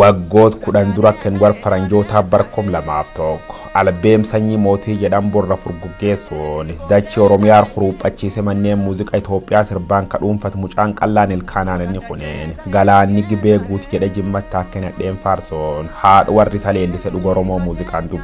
Waggoot kudhan dura kan war faranjootaa bar kum lamaaf tokko albeem sanyii mootii jedhan borra furguggeessuun dachii Oromiyaar huruuphachiise manneen muuziqa Itoophiyaa sirbaan ka dhuunfat mucaan qallaan ilkaanaan inni kuneen galaanni gibee guut jedhe jimmatt akka hin hadheen faarsoon haadh warri isa leellise dhuga Oromoo muuziqaan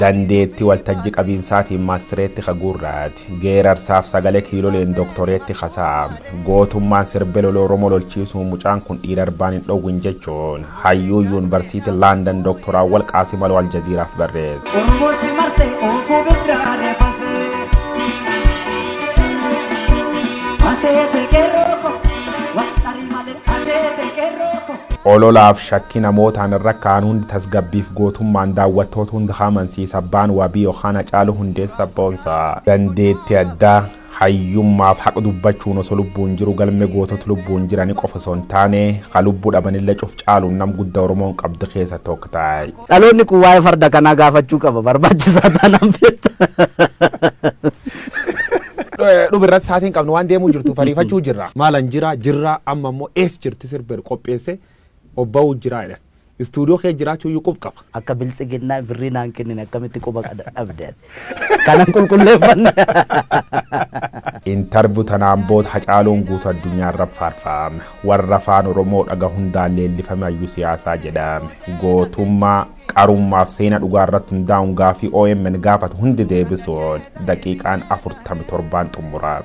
Dandeetti waltajji qabiinsaatiin maastireetti ka guurraat, geerarsaaf sagale kiiloleen doktoreetti ka saam, gootummaan sirbe lola Oromoo lolchiisuun mucaan kun dhiira arbaan hin dhowwin jechuun hayyuu yuunvarsiiti Landan Doktor Awwal Qaasim Aloo Aljaziiraaf barreesse. Oromoo si marse oofuu birraa deefase. Maseete qeerroo ko waxxari malee. kaseete qerroo ko. Ololaaf shakkii namootaan irra ka'an hundi tasgabbiif gootummaan daawwattoota hunda haa amansiisa Abbaan Wabii yookaan Hacaaluu Hundeessaa Boonsaa. Dandeettii addaa, hayyummaaf haqa dubbachuun osoo lubbuun jiru galmee gootota lubbuun jiranii qofa osoo hin taane, ka lubbuu dhabanillee cuf caaluun nam gudda Oromoon qabdu keessa tokk ta. Dhaloonni kun waa'ee farda kanaa gaafachuu qaba barbaachisaa taanaan beekta. Dhubi irratti saatiin qabnu waan deemuu jirtu fariifachuu jirra. Maalan jira jirra amma immoo ees jirti sirbeeru qopheesse obba'uu jira jedhan. Istuudiyoo kee jiraachuu iyyuu qub qaba. Akka biltsiginnaa birrii naan kennine akkamitti quba dhabde ati. Kanan qulqulleeffanne. Intarvu tanaan bood Hacaaluun guutu addunyaarra faarfaame. Warra afaan Oromoo dhaga hundaan leellifame hayyuu siyaasaa jedhame. Gootummaa, qarummaaf seena dhugaarratti hundaa'uun gaafii omn gaafatu hundi deebisuun daqiiqaan 47n xumurame.